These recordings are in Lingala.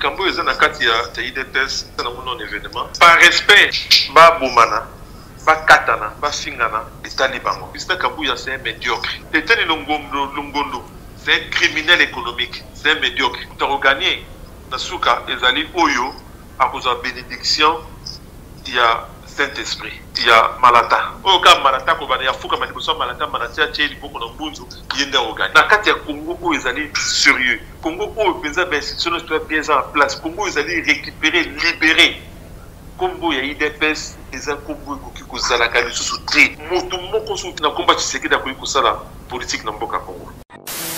likambo oyo eza na kati ya udps na mono na evenement par respect babomana bakatana bafingana etali bango justin kabuya c'est un médiocre eteni longondo longondo c'est un criminel économique c'est un médiocre tokogagne na suka ezali oyo akozwa bénédiction ya saint-esprit ya malata oyo kaka malata kobanda ya fukama liboso ya malata malata ya tie liboko na mbunzu ye nde akogani na kati ya congo oyo ezali sérieux Congo oyo penza ba institution nyonso toya bien eza na place Congo ezali récupérer libérer kombo ya idps eza kombo ekoki kozalaka lisusu te moto moko soki na komba tshisekedi akoki kosala politike na mboka congo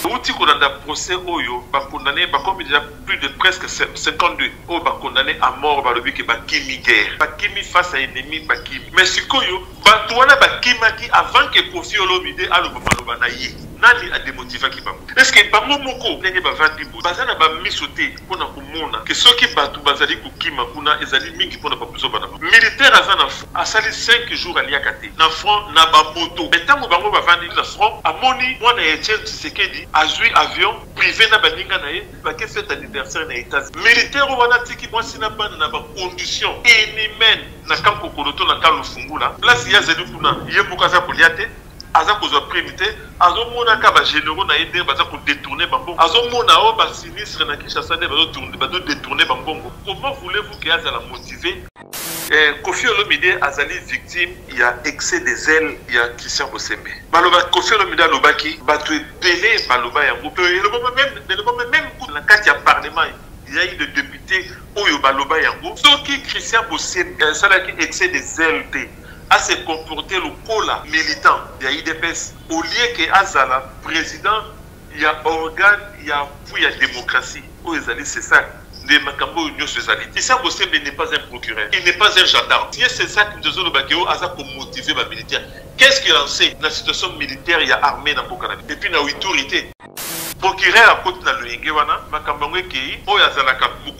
outi kolanda procès oyo bakondane bakomi deja plus de presque 52 oyo bakondane à mort balobi ke bakimi guerre bakimi face à ennemi bakimi mais sikoyo bato wana bakimaki avant ke kofi olomide aloba maloba na ye Nani a demotivaki bango? Est ce que bango moko ndenge bavandi boye baza na ba miso te mpo na komona que soki batu bazali kokima kuna ezali mingi mpo na ba buzoba na bango? Militaire aza na front asali cinq jours aliaka te na front na ba moto mais tango bango bavandi na front amoni mwana ya Etienne Tshisekedi azui avion prive na baninga na ye bake fete anniversaire na Etats-Unis. Militaire wana atiki mwasi na bana na ba conditions inhumaines na camp Kokoroto na camp Lufungula place ye azali kuna ye moko aza kolia te. aza kozwa prime te azomonaka ba generaux na ye ndenge baza kodetourne bambongo azomona o oh, basinistre na kinshasa nde bazodetourne bambongo comment voulez-vous ke azala motive eh, kofi olomide azali victime ya excès des ailes ya christian bosembe maloba kofi olomide alobaki bato ebele baloba yango to elobama meme elobama meme kutu na kati ya parlement ya ye de député oyo baloba yango soki christian bosembe asalaki excès des ailes te a se comporter lokola militant ya udps au lieu que azala president ya organe ya appui ya democratie oyo ezali cesac nde makambo oyo nionso ezali. Christian Bosembe n'est pas un procureur, il n'est pas un gendarme, ye cesac mutu ezoloba que oh aza ko motiver ba militaires, qu'est ce qu'il en sait na situation militaire ya armee na mboka na biso et puis na Ituri te? Procureur akoti na loyenge wana makambo yango ekeyi oyo azalaka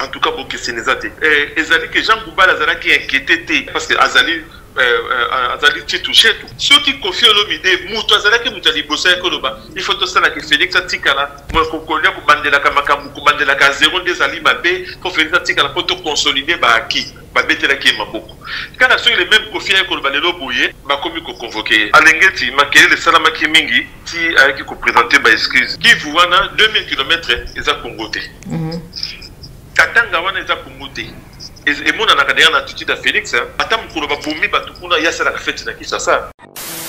En tout cas bokeseni eza te eh, ezali ke Jean Goubal azalaki inquiete te parce que azali Eh, eh, azali chetu chetu soki kofi olomide moto azalaki moto ya liboso ya koloba ifo tosala ke félix atikala kokolia kobandelaka makambo kobandelaka zero nde ezali mabe mpo félix atikala mpo toconsolide baaki babetelaki ye maboko kaka soki le meme kofi aye koloba lelo boye bakomi koconvoke ye alengeti makelele esalamaki mingi ti ayaki kopresente ba excuse kivu wana 2000 kilomètre eza congo te mhm. katanga wana eza congo te emonanaka deya na attitude ya félix ata mokolo babomi bato kuna ye asalaka feti na kisasa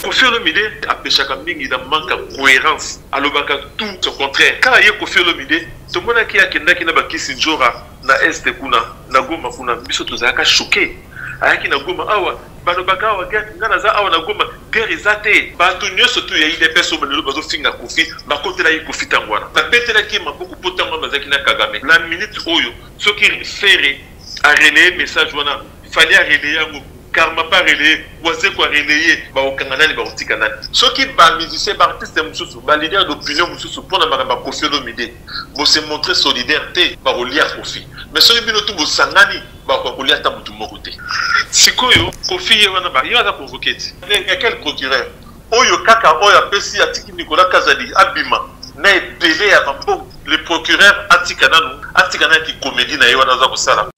kofi olomide apeshaka mingi na manque ya cohérence alobaka tout son contraire kaka ye kofi olomide tomonaki akendaki na bakisi njora na este kuna na goma kuna biso tozalaka choke ayaki na goma awa balobaka awa guerre nga naza awa na goma guerre eza te bato nyonso tu ya idps oyo lelo bazofinga kofi bakotelaki kofi ntango wana babetelaki ye maboko mpo ntango wana bazalaki na kagame na minute oyo soki fere arelaye message wana Fally a relaye yango, Karma pa relaye, Wazekwa a relaye, bakokanga nani bakotika nani? Soki ba musiciens, ba artistes mosusu, ba leaders d'opinion mosusu mpo na makambo ya Koffi Olomide bo se montrer solidaire te, bakolia Koffi mais soki bino tout bosangani bakoka kolia ata motu moko te. Sikoyo Koffi ye wana ba ye aza convoquer ti ya quel procureur? Oyo kaka oyo apesi atiki Nicolas Kazadi abima na ebele ya ba mbongo, le procureur atika nanu atika na ki comedie na ye wana aza kosala.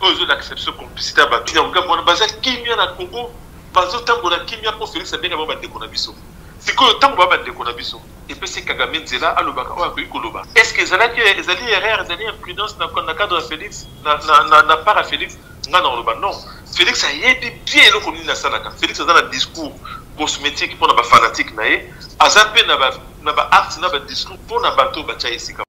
oyo ezolakisa biso complicité ya bato ya ngambo wana baza kimia na congo bazotambola kimia mpo felix abenga bango bandeko na biso sikoyo ntango baa bandeko na biso epesi kagame nzela alobaka oyo akoki koloba est ce que ezalaki ezali erreur ezali imprudence na cadre ya felix na part ya felix nga na koloba non felix ayebi bien eloko nini asalaka felix aza na discours cosmétique mpo na bafanatique na ye aza mpe na baacte na badiscours mpo na bato oyo batya esika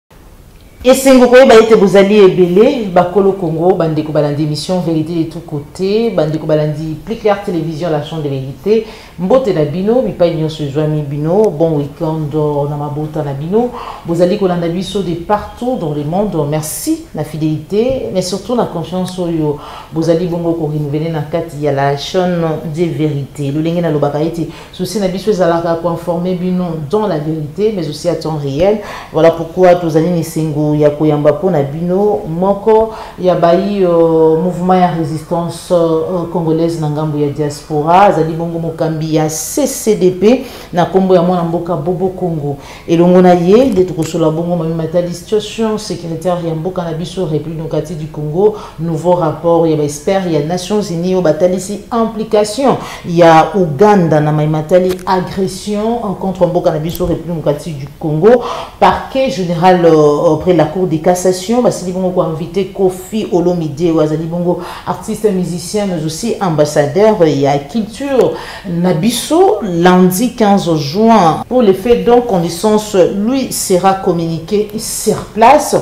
Esengo koyeba ete bozali ebele bakolo Congo bandeko balandi émission vérité de tout côté bandeko balandi plus clair télévision la chambre de vérité mbote na bino bipai nyonso ezwami bino bon week-end euh, na mabota na bino bozali kolanda biso de partout dans le monde merci na fidélité mais surtout na confiance oyo bozali bongo ko renouveler na kati ya la chaîne de vérité lolenge nalobaka ete souci na biso ezalaka koinforme bino dans la vérité mais aussi à temps réel voilà pourquoi tozali na esengo ya koyamba mpo na bino moko ya bayi euh, mouvement ya résistance euh, congolaise na ngambo ya diaspora azali bongo mokambi ya ccdp na nkombo ya mwana mboka bobo congo elongo na ye nde tokosola bongo mami matali situation sécuritaire ya mboka na biso république démocratique du congo nouveau rapport ya baexpert ya nations unies oyo batalisi implication ya ouganda na mai matali agression contre mboka na biso république démocratique du congo parquet général euh, près la cour de cassation basili bongo koinvite kofi olomide oyo azali bongo artiste musicien mais aussi ambassadeur ya culture na biso lundi 15 juin pour les faits donc connaissance lui sera communiqué sur place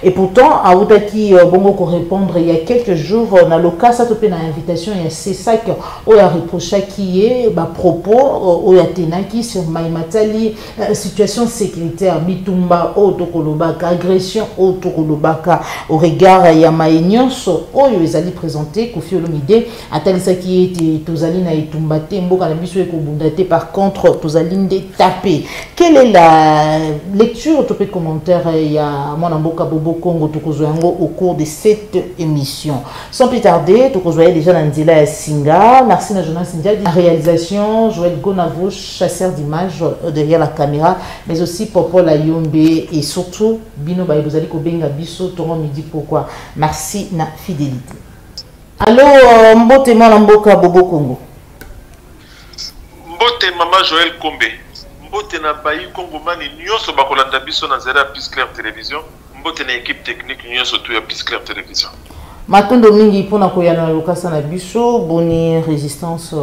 et pourtant autaki euh, bongo korépondre il y a quelques jours euh, na lokasa to mpe na invitation ya cesac oyo areprochaki ye bapropos euh, oyo atenaki sur mai matali situation sécuritaire bitumba oyo tokolobaka agression oyo tokolobaka au regard ya mai nyonso oyo ezali présente kofi olomide atalisaki ye ete tozali na etumba te mboka na biso ekobunda te par contre tozali nde tape quelle est la lecture to mpe commentaire ya mwana mboka bobo congo tokozwa yango au cours de cette émission sans plus tarder tokozwa ye déjà na nzela ya singa merci na jonas ndiadi réalisation joel gonavo chasseur d'image euh, derrière la caméra mais aussi popol ayombe et surtout bino baye bozali kobenga biso tongo midi pourquoi merci na fidélité Allo euh, mbote mwana mboka Bobo Congo. Mbote mama Joël Kombe. Mbote na bayi Congo mani nyoso bakolanda biso na zera Peace Claire Television. Mbote na équipe technique nyoso tu ya Peace Claire Television. Matondo mingi pona koyana na lokasa na biso boni résistance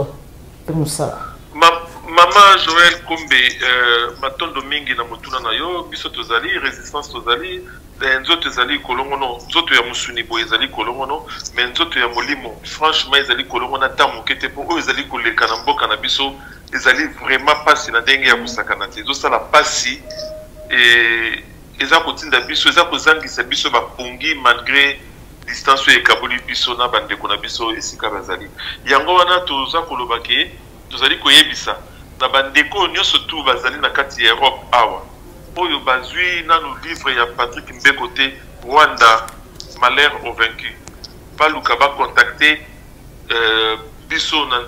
pe musala. Ma, mama Joël Kombe euh, matondo mingi na motuna na yo biso tozali résistance tozali Eh, nzoto ezali kolongono nzoto ya mosuni boye ezali kolongono me nzoto ya molimo franchement ezali kolongono ata moke te mpo oyo ezali koleka na mboka na biso ezali vraiment mpasi na ndenge ya kosakana te ezosala mpasi eh, eza kotinda biso eza kozangisa biso bapongi malgré distance oyo ekaboli biso na bandeko na biso esika bazali yango wana toza koloba ke Tozali koyebisa na ba ndeko oyo nionso tout bazali na kati ya Europe awa oyo bazui nanu livre ya Patrick Mbeko te Rwanda malheur au vaincu baluka ba contacter euh, biso na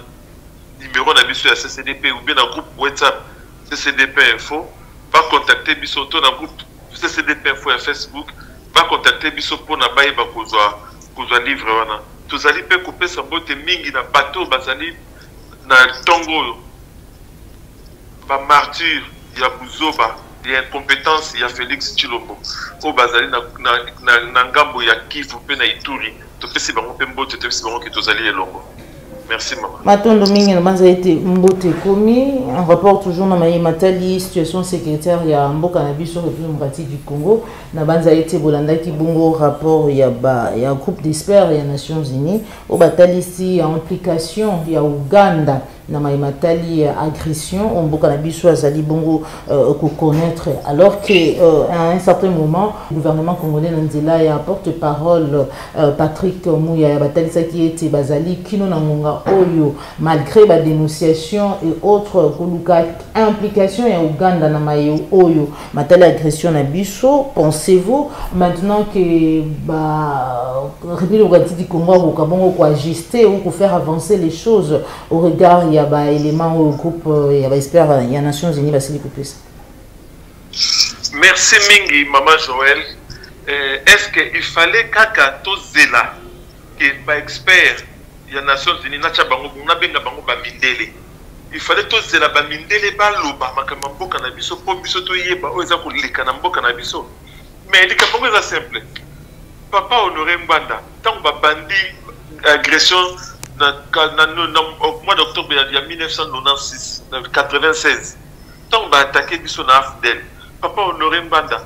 numero na biso ya CCDP ou bien na groupe WhatsApp CCDP info ba contacter biso to na groupe CCDP info ya Facebook ba contacter biso pona bayeba kozwa kozwa livre wana tozali mpe kopesa mbote mingi na bato bazali na ntongo oyo ba martyrs ya buzoba ya incompetence ya Felix Tshilombo oyo bazali na, na, na, na ngambo ya Kivu mpe na Ituri topesi bango mpe mbote topesi bango ke tozali elongo merci mama matondo mingi na banza ete mbote ekomi en rapport toujours na maye matali situation sécuritaire ya mboka na biso république démocratique du congo na banza ete bolandaki bongo rapport ya, ba, ya groupe d'expert ya nations unies Oyo batalisi implication ya Ouganda na maye matali agression oyo mboka na biso azali bongo euh, koconnaître alors que euh, à un certain moment gouvernement congolais na nzela ya porte parole euh, patrick muyaya batalisaki ete bazali kino na ngonga oyo malgré badénonciation et autres koluka implication ya ouganda na maye oyo Matali agression na biso, pensez-vous maintenant que ba République démocratique du Congo akoka bongo ko ajuster ou ko faire avancer les choses au regard ya ba éléments au groupe euh, ya ba experts euh, ya Nations Unies basili kopesa? Merci mingi Mama Joël. Euh, Est-ce qu'il fallait kaka tozela que ba experts ya nations unies natia bango bongo nabenga bango ba mindele il fallait tozela ba mindele baloba makambo ya mboka na biso mpo biso toyeba oyo eza koleka na mboka na biso mais likambo yango eza simple papa honore ngbanda ntango babandi agression na, na, na, na mois d'octobre ya, ya 1996 na 96 ntango baatake biso na afdel papa honore ngbanda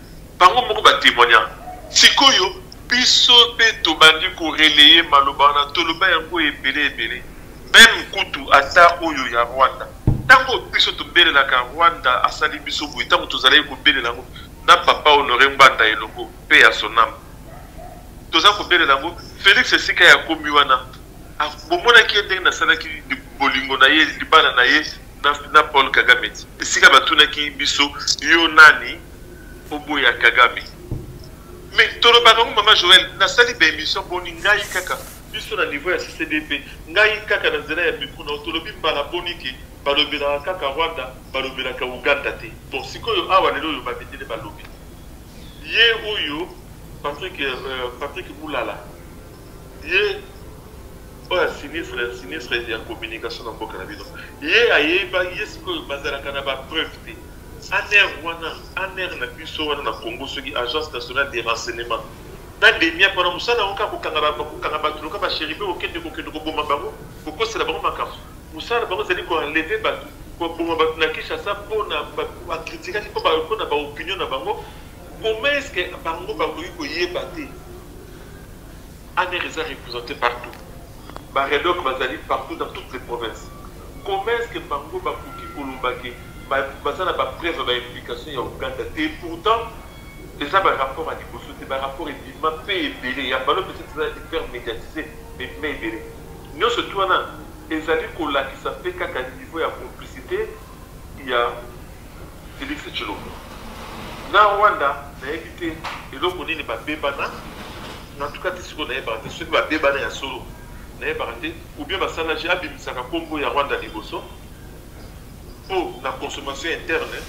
Bango moko ba temoigna. Sikoyo biso pe tobandi ko relayer maloba wana, toloba yango ebele ebele. Meme kutu ata oyo ya Rwanda. Tango biso tobelelaka Rwanda asali biso boye, tango tozalaki kobelela yango na papa Honore Ngbanda elongo, paix à son ame. Toza kobelela yango Felix esika ye akomi wana, bomonaki ye ndenge nasalaki bolingo na ye, libala na ye na Paul Kagame te? Esika batunaki biso yo nani? Oboya Kagame. Mais tolobaka ngo mama Joël nasali ba émission boni ngai kaka biso na niveau ya CCDP ngai kaka na nzela ya micro na tolobi mbala boni ke balobelaka kaka Rwanda balobelaka Uganda te. Bon sikoyo awa lelo oyo babetele balobi ye oyo Patrick euh, Patrick Mulala ye oyo asinistre sinistre ya communication na mboka na bino ye ayeba ye sikoyo bazalaka na ba preuve te Anr wana anr na biso wana na Congo soki agence nationale de renseignement na demiap wana mosala yango kaka kokanga kokanga bato loka basheribe kokende kokende koboma bango kokosela bango makambo mosala na bango ezali koenleve bato koboma bato na Kinshasa mpo na bakritikaki mpo na baopinion na bango comment est ce que bango bakoki koyeba te anr eza représente partout Ba Redoc bazali partout dans toutes les provinces comment est-ce que bango bakoki koloba que baza na ba preuves ya ba implications ya Ouganda te et pourtant eza ba rapports ya liboso te ba rapports ebima pe ebele ya Ballon peut-etre eza hyper mediatise mais ebima ebele nionso tout wana ezali kolakisa pe kaka niveau ya complicite ya Felix Tshilombo na Rwanda nayebi te eloko nini babebana. En tout cas ti sikoyo nayebaka te soki babebana ya solo nayebaka te ou bien basala je abimisaka kombo ya Rwanda liboso po na consommation interne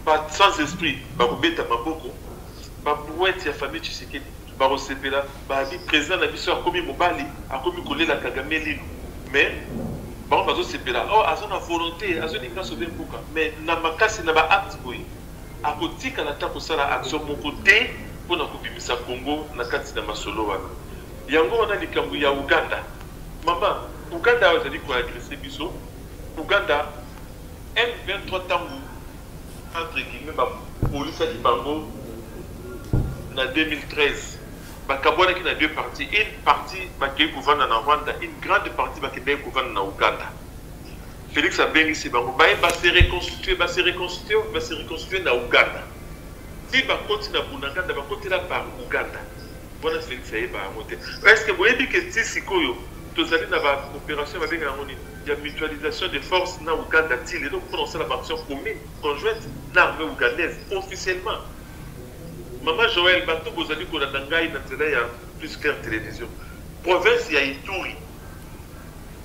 ba sans esprit bakobeta maboko ba brouette ya famille Tshisekedi bakosepela babi président na biso akomi mobali akomi kolela Kagame lino mais bango bazosepela oh aza na volonté azolinga sobe mboka mais na makasi na ba acte boye Akotikala ata kosala action moko te mpo na kobimisa Congo na kati na masolo wana. Yango wana likambo ya Ouganda, mama, Ouganda awa ezali ko agresser biso, Ouganda, M23 tango entre guillemets ba bolisaki bango na 2013, bakabuanaki na deux parties, une partie bakeyi kovanda na Rwanda, une grande partie bakendeki kovanda na Ouganda. Felix abengisi bango baye ba se reconstituer, ba se reconstituer, ba se reconstituer na Ouganda. Ti bakoti na Bunaganda bakotela par Ouganda. Wana Felix ayeba yango te. Est-ce que boyebi que ti sikoyo tozali na ba opération babenga yango nini ya mutualisation de force na Ouganda ti lelo mpona kosala ba action commune conjointe na armée ougandaise officiellement. Mama Joël, bato bozali kolanda ngai na nzela ya Plus Clair Television. Province ya Ituri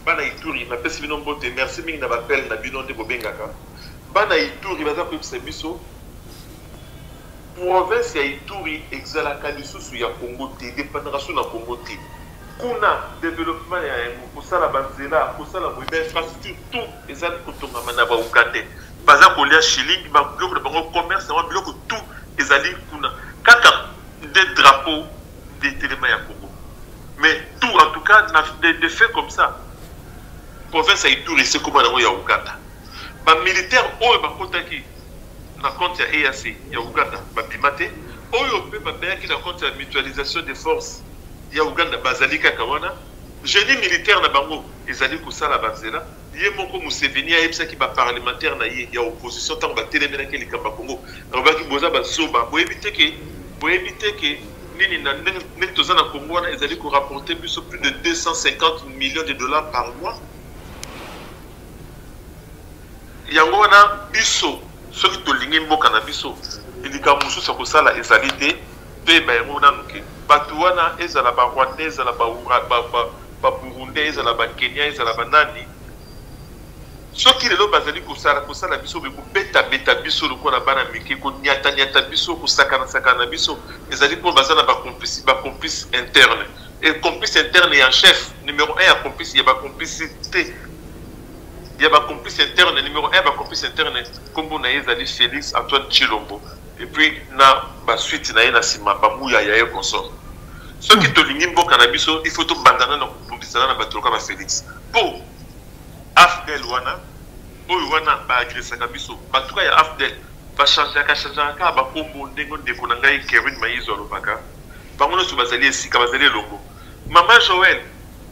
Bana ituri na pesi bino mbote merci mingi na ba appel na bino nde bobengaka bana ituri baza koyebisa biso province ya ituri exalaka lisusu ya congo te dependaka su na congo te kuna developpement ya yango kosala banzela kosala boye bainfrastructure tout eza kotongama na baugandais baza kolia shilingi babiloko na bango commerce yango biloko tout ezali kuna kaka nde drapeau nde telema ya congo mais tout en tout cas na de, de fait comme ça province ya ituri esekoma yango ya uganda bamilitaire oyo bakotaki na compte ya eac ya uganda babima te oyo mpe babeyaki na compte ya mutualisation de force ya uganda bazali kaka wana génie militaire na bango ezali kosala banzela Ye moko Museveni ayebisaki ba parlementaires na ye ya opposition tango batelemelaki ye likambo ya Congo, alobaki boza ba zoba, boyebi te ke boyebi te ke nini na ndenge ndenge toza na Congo wana ezali ko rapporter biso plus de 250 millions de dollars par mois. Yango wana biso soki tolingi mboka na biso likambo mosusu ya kosala ezali te, toyeba yango nanu ke batu wana ezala ba rwandais ezala ba, ba, ba ba burundais ezala ba kenian ezala ba nani soki lelo bazali kosala kosala biso boye kobetabeta biso lokola bana mike koniataniata biso kosakanasakana na biso ezali mpo baza na bacomplice bacomplice interne e complice interne ya chef numero 1 ya complice ya bacomplicité ya bacomplice interne numero 1 ya bacomplice interne nkombo na ye ezali félix antoine chilombo et puis na ba suite na ye na sima ba muya ya ye consort soki hmm. tolingi mboka na biso il faut tobandana na kobundisana na bato loka ba félix mpo afdel wana oyo wana baagresaka biso batuka ya afdel bachangeaka changeaka kaka bakombo ndenge ndeko na ngai kerwin maizo alobaka bango nyonso bazali esika bazali elongo mama joel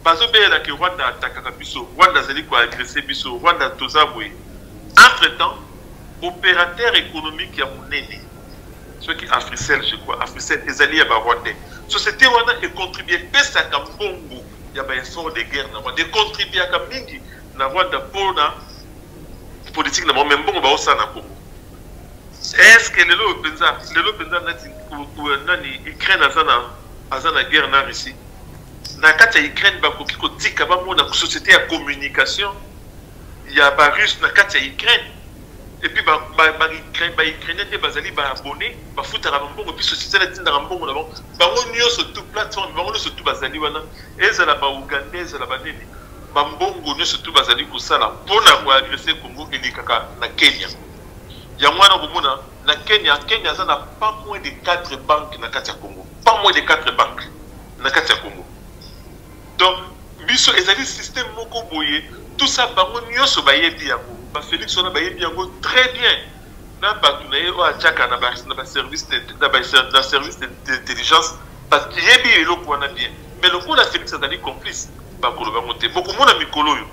Bazo belela que Rwanda atakaka biso, Rwanda azali ko agresser biso, Rwanda toza boye. Entre temps, operateur economique ya munene soki Africel je crois, Africel ezali ya ba Rwandais. Société wana e contribuer epesaka mbongo ya ba effort de guerre na Rwanda, e contribuaka mingi na Rwanda mpo na politique na bango, mais mbongo baosala na Congo est-ce que lelo oyo mpenza lelo mpenza nani ukraine aza na aza na guerre na russie na kati ya Ukraine bakoki kotika bamona société ya communication ya ba russe na kati ya Ukraine epuis baukrainien nde bazali baabonne bafutaka bambongo epuis société natindaka mbongo na bango bango nyonso tu plateforme bango nyonso tu bazali wana ezala baougandais ezala banini bambongo nyonso tu bazali kosala mpo na koagrese congo elekaka na kenya yango wana komona na Kenya, Kenya aza na pas moins de 4 banques na kati ya Congo, pas moins de 4 banques na kati ya Congo. Donc biso ezali système moko boye, tout ça bango nyoso bayebi yango, ba Felix wana bayebi yango très bien. na bato na ye oyo atiaka na baservice na service d'intelligence parce que yebi eloko wana bien mais lokola felix azali complice bakoloba yango te bokomona mikolo oyo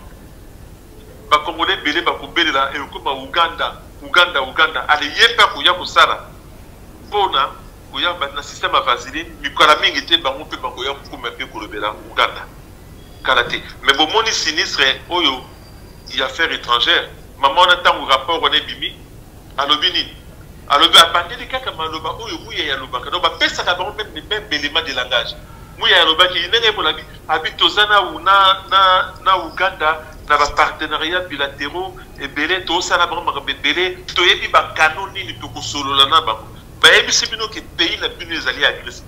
ba congolais ebele bako belela ekokoma Ouganda Ouganda Ouganda ale ye pe akoya kosala pona koya ba na système ya vaseline mikala mingi te bango pe bakoya kokoma pe kolobela Ouganda kala te mais bomoni sinistre oyo ya affaire etrangère maman wana tango rapport wana ebimi alobi nini alobi abandeli kaka maloba oyo muyaya alobaka donc bapesaka bango meme les meme b'element de langage muyaya alobaki ndenge ye molabi Abi toza na na na na Ouganda na ba partenariats bilateraux ebele to sala bango makambo ebele to yebi ba canaux nini toko solola na bango ba yebisi bino ke pays na bino ezali agressé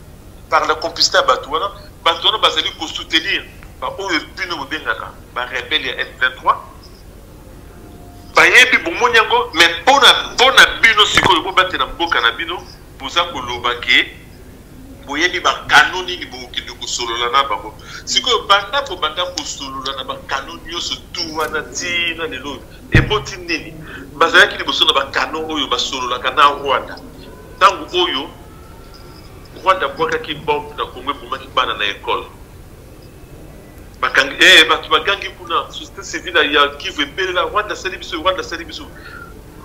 par la complicité ya bato wana bato wana bazali ko soutenir ba oyo bino bobengaka ba rebelle ya M23 bayebi bomoni yango mais pona pona bino sikoyo bobatela mboka na bino boza koloba ke boyebi ba canaux nini bokende kosolola na bango sikoyo banda kobanda kosolola na ba canaux nyonso tu wana ti na lelo eboti nini bazalaki liboso na ba canaux oyo basololaka na rwanda ntango oyo rwanda abwakaki bombe na kongo ebomaki bana na ekole bakangi eh, bato bagangi kuna société civile ya kivu ebelela rwanda asali biso rwanda asali biso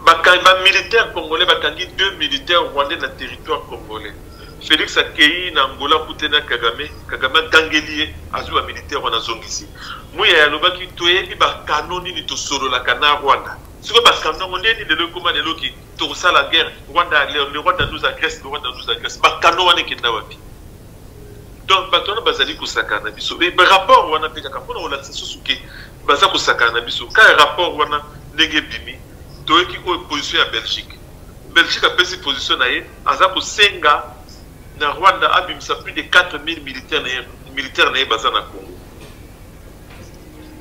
Bakangi ba militaires congolais bakangi deux militaires rwandais na territoire congolais. Felix akeyi na Angola kute na Kagame, Kagame agangeli ye azwi ba militaires wana azongisi. Muyaya alobaki toyebi ba canon nini tosololaka na Rwanda. Siko ba canon yango ndeni lelo ekoma lelo ki tokosala guerre Rwanda le Rwanda nous agresse, le Rwanda nous agresse. Ba canon wana ekenda wapi? Donc bato wana bazali kosakana na biso et rapport wana mpe kaka mpona kolakisa susu ke baza kosakana na biso ka rapport wana ndenge ebimi toyoki oyo position ya belgique belgique apesi position na ye aza kosenga na rwanda abimisa plus de 4000 militaire na ye baza na congo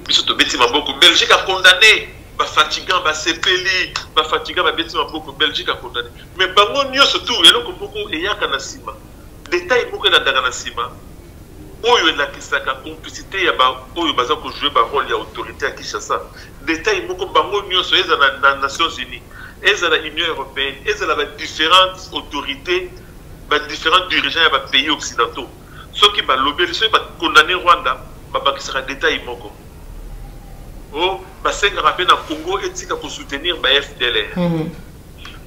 biso tobeti maboko belgique acondamne bafatigan basepeli bafatigan babeti maboko belgique acondamne mais bango nyonso tour eloko moko eyaka na nsima Detail moko elandaka na nsima oyo elakisaka complicite ya baoyo baza kojoue barole ya autorité ya Kinshasa. Detail moko bango nyonso ezala na Nations Unies, ezala Union européenne, ezala ba différentes autorités, ba différents dirigeants ya ba pays occidentaux, soki balobeli, soki ba condamner Rwanda, babakisaka detail moko o oh, basengaka mpe na Congo etika ko soutenir ba FDLR. Mm -hmm.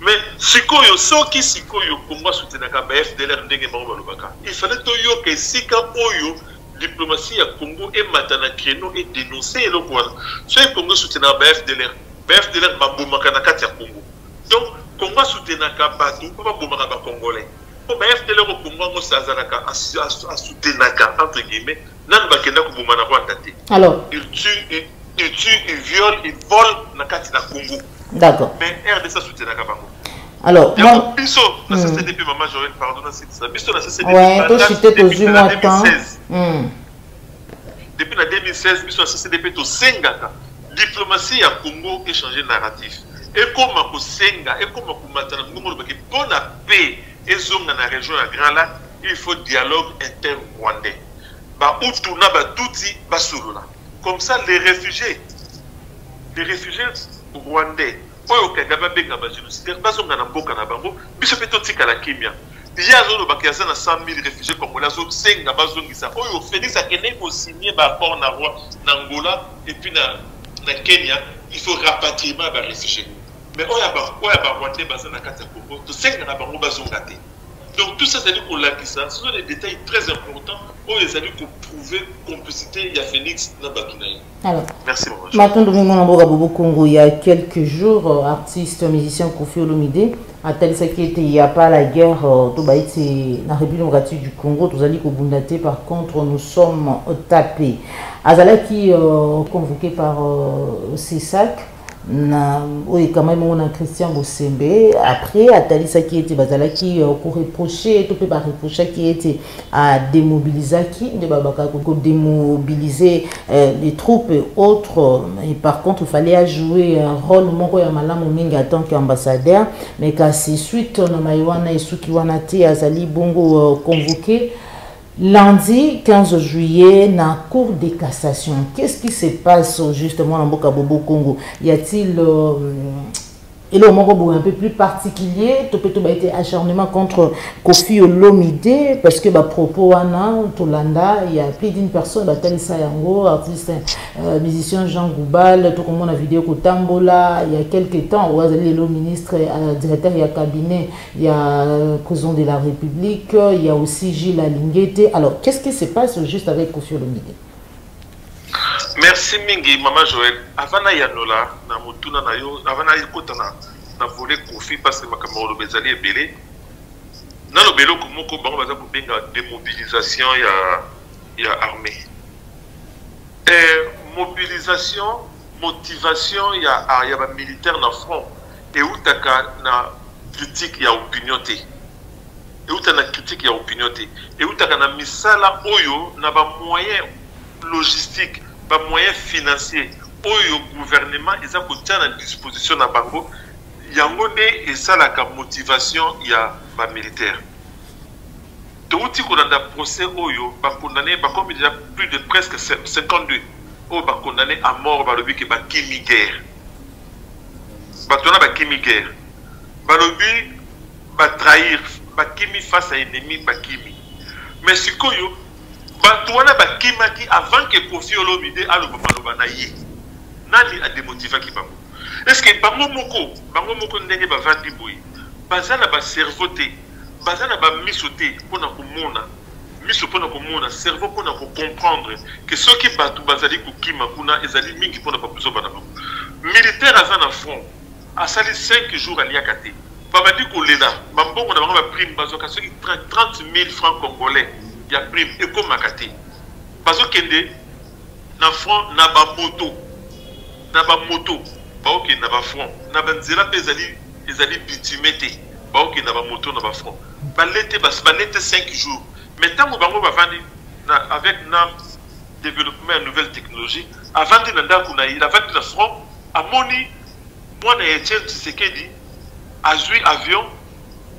mais sikoyo soki sikoyo congo asutenaka ba fdlr ndenge bango balobaka il fallait toyoka esika oyo diplomatie ya congo emata na créneau edenonce eloko wana soki congo esutenaka ba fdlr ba fdlr babomaka na kati ya congo donc congo asutenaka bato mpo babomaka bacongolais mpo ba fdlr okongo yango azalaka asutenaka entre guillemets nanu bakenda koboma na rwanda te alors il tue il, il tue il viole il vole na kati na congo d'accord mais rdc asoutenaka bango alors yango biso na hmm. ccd mpe mama joel pardon nasitisa biso na ccd ouais, toshite tozwi mwa temps hmm. depuis na 2016 biso na ccd mpe tosengaka diplomatie ya congo échange narratif ekoma kosenga ekoma komata na mongongo olobaki mpo na paix Ezonga na region ya grand lac il faut dialogue inter rwandais ba hutu na ba tutsi basolola comme ça les réfugiés les réfugiés rwandais oyo kagame abenga ba génocidaire bazonga na mboka na bango biso mpe totikala kimia ye azolobaka aza na 100 000 réfugié congolais azosenga bazongisa oyo félix akendeki kosigne baaccord na roi na angola epuis na, na kenya il faut rapatriement ya baréfugié mais oyo ya barwandais baza na kati ya congo tosenga na bango bazonga te donc tout ça ezali kolakisa ce sont des détails très importants oyo ezali koprouve complicité ya félix na bato na ye matondo mingi mwana mboka bobo congo ya quelques jours euh, artiste musicien kofi olomide atalisaki ete ya pas la guerre euh, to bayi ti na république démocratique du congo tozali kobunda te par contre nous sommes tapés azalaki euh, convoqué par cesac na oyo ekamami yango na christian bosembe après atalisaki ete bazalaki euh, koreproche to mpe bareprochaki ete ademobilizaki nde babaka kodemobilize euh, les troupes et autres et par contre fallait ajouer un rôle moko ya malamu mingi en tant qu'ambassadeur mais kasi suite na mai wana esuki wana te azali bongo euh, convoqué Lundi 15 juillet na Cour de cassation, qu'est-ce qui se passe justement na mboka Bobo Congo? Y a-t-il euh, eloko moko boye un peu plus particulier to mpe toba ete acharnement contre kofi olomide parce que bapropos wana tolanda ya plus d'une personne batalisa yango artiste euh, musicien jean goubal tokomona video kotambola ya quelque temps oyo azali lelo ministre euh, directeur ya cabinet Il y a euh, Cousin de la République, il y a aussi Gilles Alingete. Alors, qu'est-ce qui se passe au juste avec Kofi Olomide Merci mingi, Maman Joël. Avant na yanola, na mutuna na yo, avant na yekota na, na volet Kofi, parce que makambo olobe ezali ebele. Na lobe eloko moko, bango baza kobenga démobilisation ya, ya armée. Et eh, mobilisation Motivation ya ya ba militaire na front ewutaka na critique ya opinion te ewuta na critique ya opinion te ewutaka na misala oyo na ba moyen logistique ba moyen financier oyo gouvernement eza kotia na disposition na bango yango nde esalaka motivation ya ba militaire towuti kolanda procès oyo bakondane bakomi deja plus de presque 52 Oyo ba condamne a mort balobi ke bakimi guerre. Bato wana bakimi guerre. Balobi ba trahir, bakimi face à ennemi, bakimi. Mais sikoyo bato wana bakimaki avant ke Koffi Olomide aloba maloba na ye. Nani a demotivaki bango? Est-ce que bango moko, bango moko ndenge bavandi boye, baza na ba cerveau te, baza na ba miso te pona komona miso mpo na komona, cerveau mpo na ko comprendre que soki batu bazali kokima kuna ezali mingi mpo na ba buzoba na bango. Militaire aza na front asali cinq jours aliaka te babandi kolela ba mbongo na bango ba prime bazwaka soki 30000 francs congolais ya prime ekomaka te bazokende na front na ba moto na ba moto baokende na ba front na ba nzela mpe ezali ezali bitime te baokende na ba moto na ba front Bale te basi bale te 5 jours mais tango bango bavandi na avec na développement ya nouvelle technologie avandi na ndako na ye avandi na front amoni mwana ya Etienne Tshisekedi azwi avion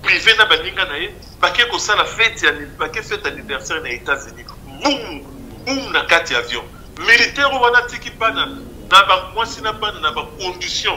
privé na baninga na ye bake kosala fete ya bake fete anniversaire na États-Unis boum boum na kati ya avion militaire wana atiki bana na bamwasi na bana na bacondition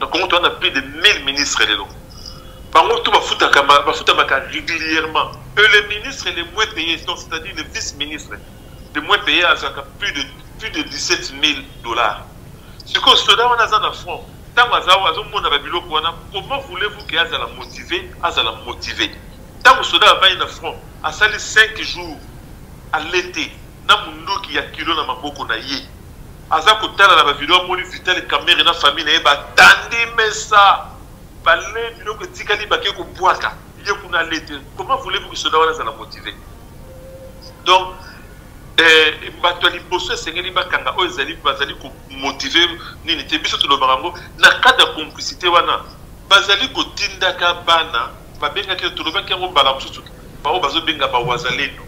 na Congo toza na plus de 1000 ministres lelo bango tout bafutaka bafutamaka régulièrement et le ministre le moins payé donc c'est-à-dire le vice ministre le moins payé azalaka plus de plus de 17 000 dollars sikoyo soda wana aza na front ntango azomonaka biloko wana comment voulez-vous ke azala motive azala motive ntango soda avandi na front asali 5 jours alete na monduki ya kilo na maboko na ye Aza kotala na ba video amoni Vital Kamerhe na famille na ye ba tandi mesa balee biloko etikali bake kobwaka ye kuna alee te comment voulez-vous que soda wana azala motive donc eh, bato ya liboso esengeli bakanga oyo ezali bazali komotive nini te biso tolobaka yango na cadre ya complicité wana bazali kotindaka bana Babengaki yo, tolobaki yango mbala mosusu, baoyo bazobenga ba wazalendo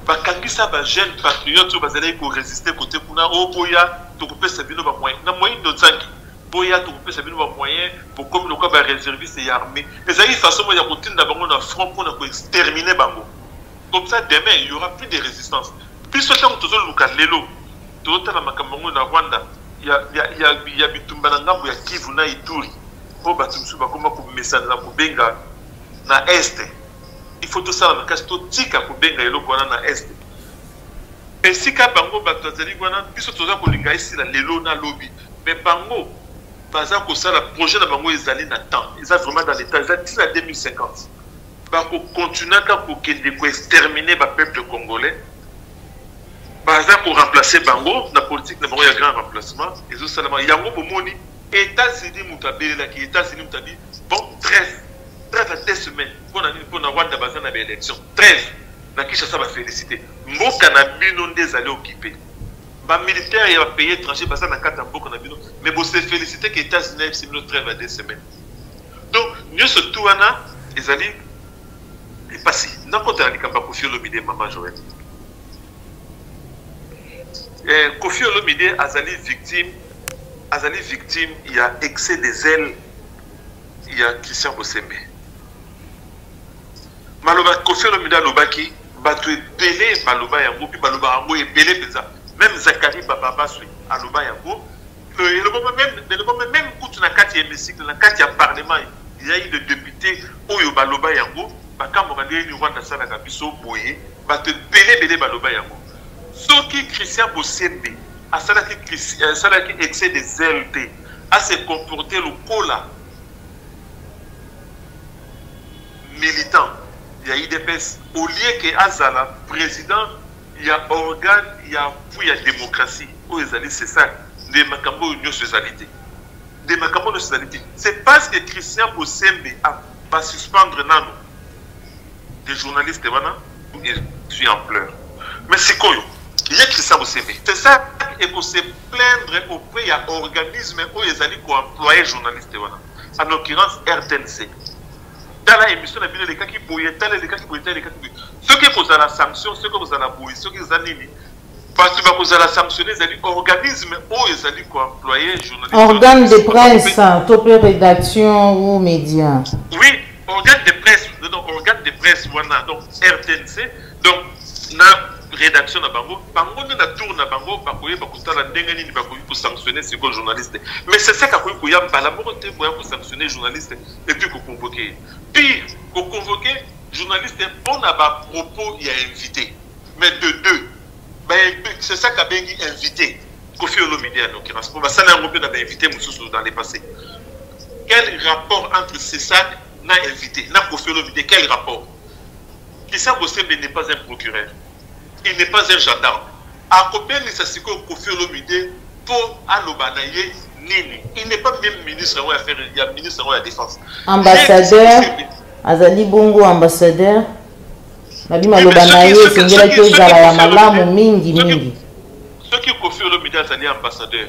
bakangisa ba jeune patriote oyo bazalaki koresiste kote kuna o oh, boya tokopesa bino bamoyen na moindo nzangi boya tokopesa bino bamoyen bokomi lokola bareserviste ya armée ezalaki façon moko ya kotinda bango na front mpo na koextermine bango comme ça demain il y aura plus de résistance biso ntango tozoluka lelo tozotala makambo yango na rwanda ya, ya, ya, ya bitumba na ngambo ya kivu na ituri mpo bato mosusu bakoma komesana na kobenga na este il faut tosala makasi totika kobenga eloko wana na este esika bango bato bazali wana biso toza kolinga esila lelo na lobi me bango baza kosala projet na bango ezali na temps eza vraiment dans l'état eza ti na 2050 Bako continue ata kokende ko exterminer ba peuple congolais baza ko remplacer bango na politique na bango ya grand remplacement ezo salama yango bomoni Etats-Unis moto abelelaki Etats-Unis moto abi bon 13 13 à 2 semaines mpona nini mpona Rwanda baza na ba élection 13 na Kinshasa ba félicité mboka na bino nde ezali occupé ba militaire ya ba pays étranger baza na kati ya mboka na bino mais bo se félicité que Etats-Unis ayebisi bino 13 à 2 semaines donc nyoso tu wana ezali mpasi nakota na likambo ya kofi olomide mama joel eh, kofi olomide azali victime azali victime ya excès des ailes ya christian bosembe maloba kofi olomide alobaki bato ebele baloba yango mpe baloba yango ebele mpenza meme zakari bababaswi aloba yango elobama meme elobama meme kutu na kati ya hémicycle na kati ya parlement yai de député oyo baloba yango bakamboka ndeni rwanda asalaka biso boye bato ebele ebele baloba yango soki christian bosembe asalaki asalaki excès de zèle te ase comporter lokola militant ya idps au lieu ke azala président ya organe ya appui ya democratie oyo ezali c'est ça nde makambo oyo nyonso ezali te nde makambo oyo nyonso ezali te c'est parce que christian bosembe basuspendre nano de journaliste wana suis en pleurs mais sikoyo ye christian bosembe c'est ça ekose plaindre auprès ya organisme oyo ezali koemploye journaliste wana en l'occurrence rtnc tala emission na bino elekaki boye tala elekaki boye tala elekaki boye soki ekozala sanction soki ekozala boye soki eza nini bato bakozala sanctionne ezali organisme oyo ezali koemploye journalistorgane de presse to mpe rédaction ou média oui organe de presse donc organe de presse wana donc rtnc donc na rédaction na bango bango nde na tour na bango bakoyeba kotala ndenge nini bakoki kosanctionne sikoyo journaliste mais sesek akoki koya mbala moko te boya kosanctionne journaliste et puis ko convoquer ye pire ko convoquer journaliste mpo na ba propos ya invité mais de deux c'est ça kabengi invité kofi olomide ya noki na spo basala yango mpe na bainvité mosusu dans le passé quel rapport entre cesac na invité na kofi olomide quel rapport kisa bosembe n'est pas un procureur il n'est pas un gendarme akobengisa sikoyo kofi olomide mpo aloba na ye nini il n'est pas même ministre yango ya faire ya ministre yango ya défense ambassadeur azali bongo ambassadeur nabi maloba na ye esengelaki ezala ya malamu mingi mingi soki kofi olomide azali ambassadeur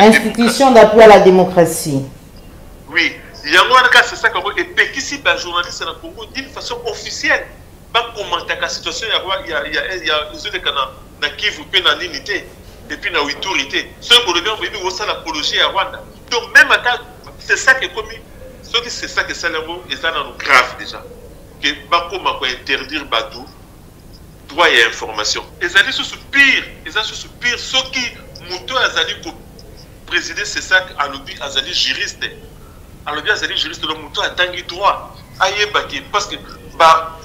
institution d'appui à la démocratie oui yango wana kaka c'est ça kango epekisi bajournaliste na congo d'une façon officielle bakomantaka situation ezoleka na kivu mpe na nini te epuis na wituri te soki bolobi yango boyebi kosala apologie ya rwanda donc même ata c'est ça ekomi soki c'est ça kesala yango eza nano grave déjà ke bakoma kointerdire bato droit ya information ezali susu pire eza susu pire soki moto oyo azali ko préside cesac alobi azali juriste alobi azali juriste donc moto oyo atangi droit ayeba ke parce que ba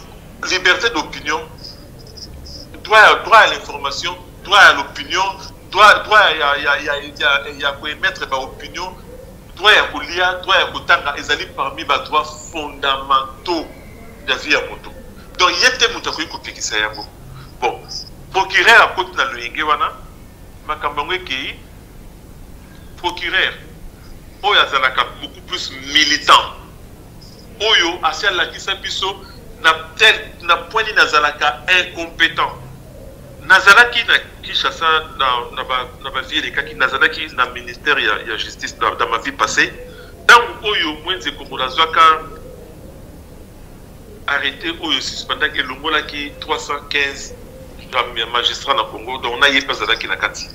liberté d'opinion droit ya droit ya l'information droit ya l'opinion droit droit ya ya ya ya, ya, ya koemettre ba opinion Droit ya kolia, droit ya kotanga ezali parmi ba droits fondamentaux ya vie ya moto. Donc ye te moto akoki kopekisa yango. Bon, procureur akoti na loyenge wana, makambo yango ekei procureur oyo azalaka beaucoup plus militant oyo asi alakisa biso na tel na point nini azalaka incompétent Nazalaki na Kinshasa na, na, ba, na ba vie elekaki, nazalaki na ministère ya, ya justice na, na ma vie passée. Ntango oyo Mwenze Kongo nazwaka arrete oyo suspendaki elongolaki 315 gramme ya magistrat na Congo, donc na ye mpe azalaki na kati.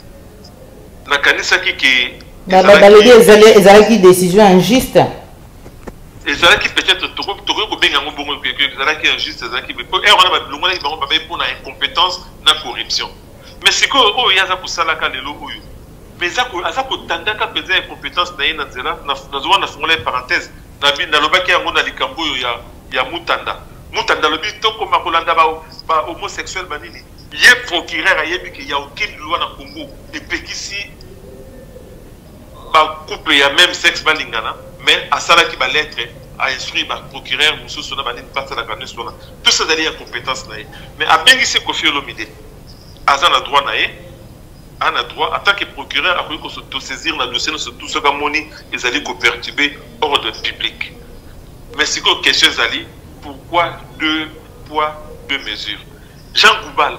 Nakanisaki ke balobi ezalaki décision injuste ezalaki peut-être tokoki kobenga yango bongo ezalaki injuste ezalaki po ere wana balongolaki bango babai mpo na incompétence na corruption mais sikoyo oyo ye aza kosalaka lelo oyo mais aza kotandaka mpenza incompétence na ye na nzela nazomona nafungola ye parenthèse nalobaki yango na likambo oyo ya, ya mutanda mutanda alobi tokoma kolanda bahomosexuel ba banini ye procureur ayebi ke ya aucune loi na congo epekisi ba couple ya même sexe balingana mais asalaki ba lettre a instruire ba procureur mosusu na banini basalaka nyonso wana tout ça ezali ya compétence na ye mais abengisi kofi olomide aza na droit na ye ana droit en tant que procureur akoki kosaisir na dossier nyonso tout soki amoni ezali koperturbe ordre public mais sikoyo question ezali pourquoi deux poids deux mesures jean goubal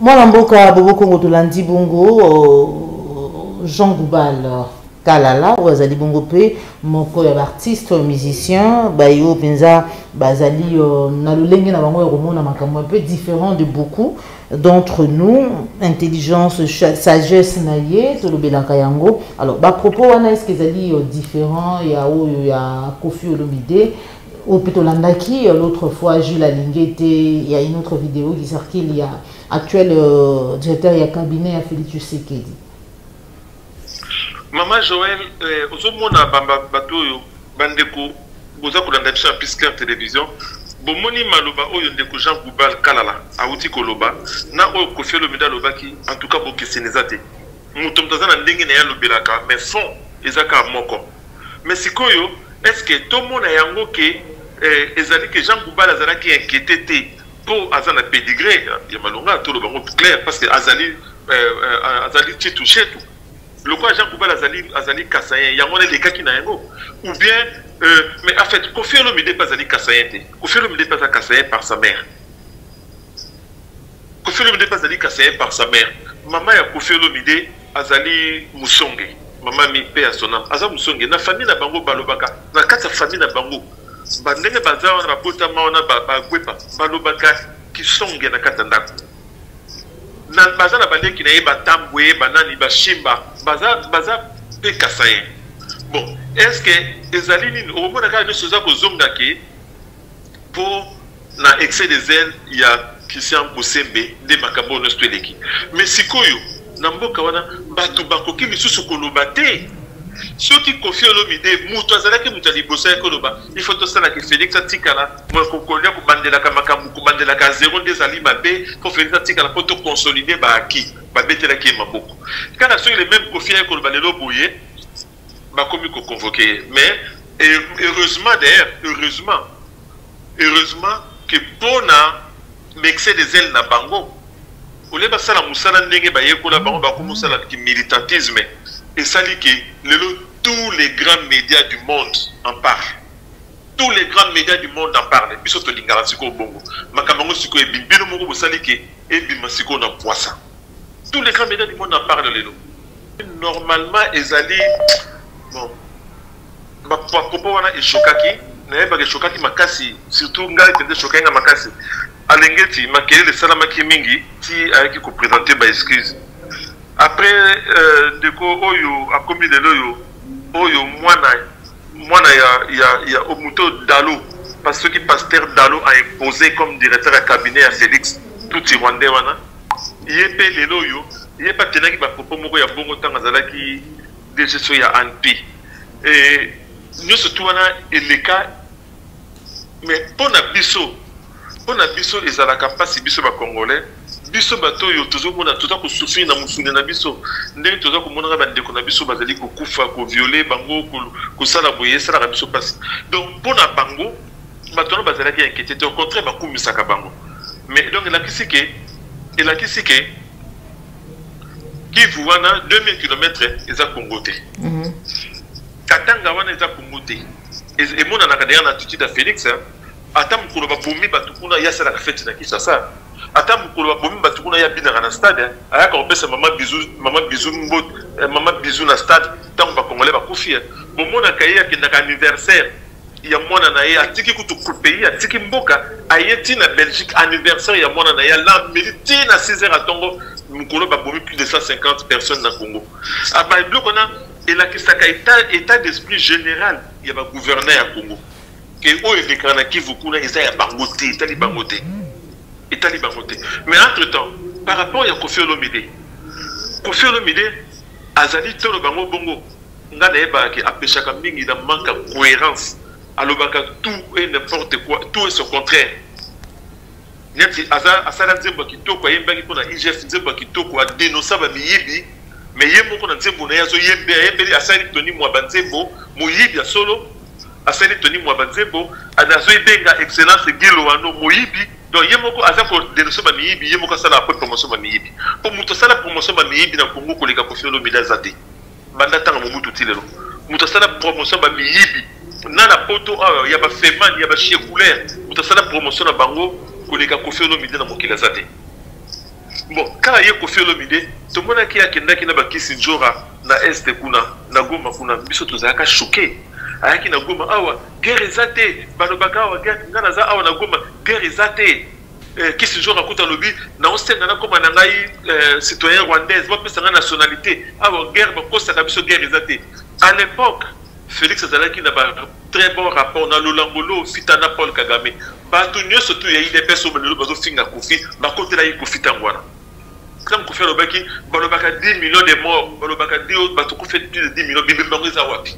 mwana mboka bobo kongo tolandi bongo euh, jean goubal kalala oyo azali bongo mpe moko ya baartiste oyo musicien baye oyo mpenza bazali euh, na lolenge na bango ya komona makambo un peu différent de beaucoup d'entre nous intelligence sagesse na ye tolobelaka yango alors bapropos wana estce ezali euh, différent ya oyo ya kofi olomide oyo mpe tolandaki l'autre fois jules alinge te ya une autre vidéo qui circule ya actuel euh, directeur ya cabinet ya félix tshisekedi mama joel euh, ozomona bato oyo bandeko boza kolanda biso ya pisclair télévision bomoni maloba oyo ndeko jean goubal kalala awuti koloba na oyo kofi olomide alobaki en tout cas bokeseni eza te moto moto aza na ndenge na ye alobelaka mais fond eza kaka moko Mais sikoyo est-ce que tomona yango ke eh, ezali ke Jean Goubal azalaki inquiété te po aza na pedigree ya malonga toloba yango clair parce que azali eh, eh, azali chetu chetu lokola jean koubal azali azali kasayen yango wana elekaki na yango ou bien euh, mais en fait kofi olomide mpe azali kasayen te kofi olomide mpe aza kasayen par sa mère Koffi Olomide pe azali kasaien par sa mère. Mama ya Koffi Olomide azali musonge. Mama mi pe ya sonam aza musonge. Na famille na bango balobaka na kati ya famille na bango ba ndenge baza wana babotama wana bagwepa balobaka kisonge na kati ya ndako. Na baza na baleki na ye batambwe banani bashimba baza baza pe kasaien. Bon, est-ce que ezali nini okomona kaka nyoso eza kozonga ke po na excès de zèle ya Christian Bosembe nde makambo oyo nyonso eleki mais sikoyo na mboka wana bato bakoki lisusu koloba te soki kofi olomide moto azalaki moto ya liboso yaki oloba il faut tosalaki félix atikala kokolia kobandelaka makambo kobandelaka zero nde ezali mabe mpo félix atikala mpo toconsolide baaki babetelaki ye maboko kaka soki le même kofi yaki koloba lelo boye bakomi ko convoquer ye mais heureusement d'ailleurs heureusement heureusement que pona excès des ailes na bango olie basala mosala ndenge bayekola bango bakomi osala militantisme esali ke lelo tous les grands médias du monde en parle tous les grands médias du monde en parle biso tolingaka sikoyo bongo makambo yango sikoyo ebimi bino moko bosali ke ebima sikoyo na pwasa tous les grands médias du monde en parle lelo normalement ezali bon bakopa wana eshokaki nayebaka eshokaki makasi surtout ngai mpenza eshokaki nga makasi alengeti makelele esalamaki mingi ti ayaki kopresente ba excuse après euh, ndeko oyo akomi lelo oyo oyo mwana Mwana ya ya ya moto dalo parce soki pasteur dalo a imposer comme directeur ya cabinet ya Felix tout ti rwandais wana ye pe lelo yo ye pa tenaki ba propos moko ya bongo tanga azalaki DGSO ya ANP et nyoso tout wana eleka mais pona biso pona biso ezalaka pasi biso ba congolais biso bato oyo tozomona toza kosufrir na mosuni na biso ndenge toza komonaka bandeko na biso bazali kokufa koviole bango kosala boye esalaka biso mpasi donc mpo na bango bato wana bazalaki inquiete te au contraire bakumisaka bango mais donc elakisi ke elakisi ke kivu wana 2000 km eza kongo te mhm. katanga wana eza kongo te emonanaka deya na attitude ya félix hein? ata mokolo babomi bato kuna ye asalaka feti na kinshasa ata mokolo babomi bato kuna ye abinaka na stade ayaka kopesa mama bizu mama bizu mbot eh, mama bizu na stade ntango bacongolais bakufi eh. bomonaka ye akendaka anniversaire ya mwana na ye atiki kutu pays atiki mboka aye ti na belgique anniversaire ya mwana na ye alameli ti na 6 heures atongo mokolo babomi plus de 150 personnes na congo aba ah, biloko wana elakisaka état d'esprit général ya bagouverneur ya congo ke oyo elekaka na kivu kuna eza ya bango te etali bango te etali bango te mais entre temps par rapport ya kofi olomide kofi olomide azali tolo bango bongo nga nayebaka ke apeshaka mingi na manque ya cohérence alobaka tout et n'importe quoi tout et son contraire neti asala nzembo ya kitoko ayembaki mpo na igf nzembo ya kitoko adenosa bamiyibi me ye moko na nzembo na ye azoyembe ayembeli asali toni mwa banzembo moyibi ya solo asali toni mua ba nzembo azo ebenga excellence Guy Loano moyibi donc ye moko aza ko denoncer ba miyibi ye moko asala après promotion ba miyibi po mutu asala promotion ba miyibi na Congo koleka Koffi Olomide aza te banda tanga Mobutu ti lelo mutu asala promotion ba miyibi na na poto awa ya ba Feman ya ba Chekouler mutu asala promotion na bango koleka Koffi Olomide na mokili aza te Bon, kaka ye Koffi Olomide tomonaki akendaki na bakisi njora na este kuna na Goma kuna biso tozalaka choqué ayaki na Goma awa guerre eza te balobaka awa guerre nga naza awa na Goma guerre eza te eh, kisi njora kuta alobi naosenga nakoma na ngai eh, citoyen rwandaise bapesa ngai nationalité awa guerre bakosaka biso guerre eza te à l'époque Felix azalaki na ba très bon rapport na Lolango Lo Fita na Paul Kagame. Bato nyonso tu ya IDPS oyo lelo bazo finga Kofi, bakotela ye Kofi tango wana. Tango Kofi alobaki balobaka 10 millions de morts, balobaka di oyo bato kufa plus de 10 millions, bibembe yango eza wapi?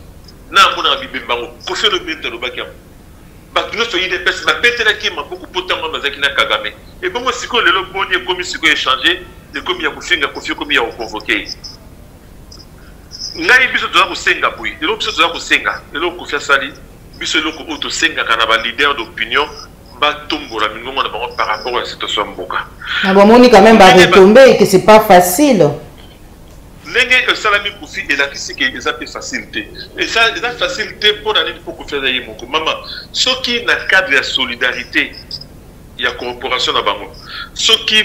Na amonaka bibembe yango. Kofi alobi nini alobaki yango? Bato nyonso ya IDPS babetelaki ye maboko mpo tango wana bazalaki na Kagame. Ebongo sikoyo lelo boni ekomi sikoyo echange, ekomi ya kofinga Kofi, ekomi ya koconvoke ye. ngai biso toza kosenga boye eloko biso toza kosenga eloko kofi asali biso eloko oyo tosengaka na baleader d'opinion batombola mingongo na bango par rapport ya situation ya mboka na bamoni quand même baretombe que c'est pas facile ndenge esalami kofi elakisi ke eza mpe facile te eza facile te mpo na nini mpo kofi aza ye moko mama soki na cadre ya solidarité ya corporation na bango soki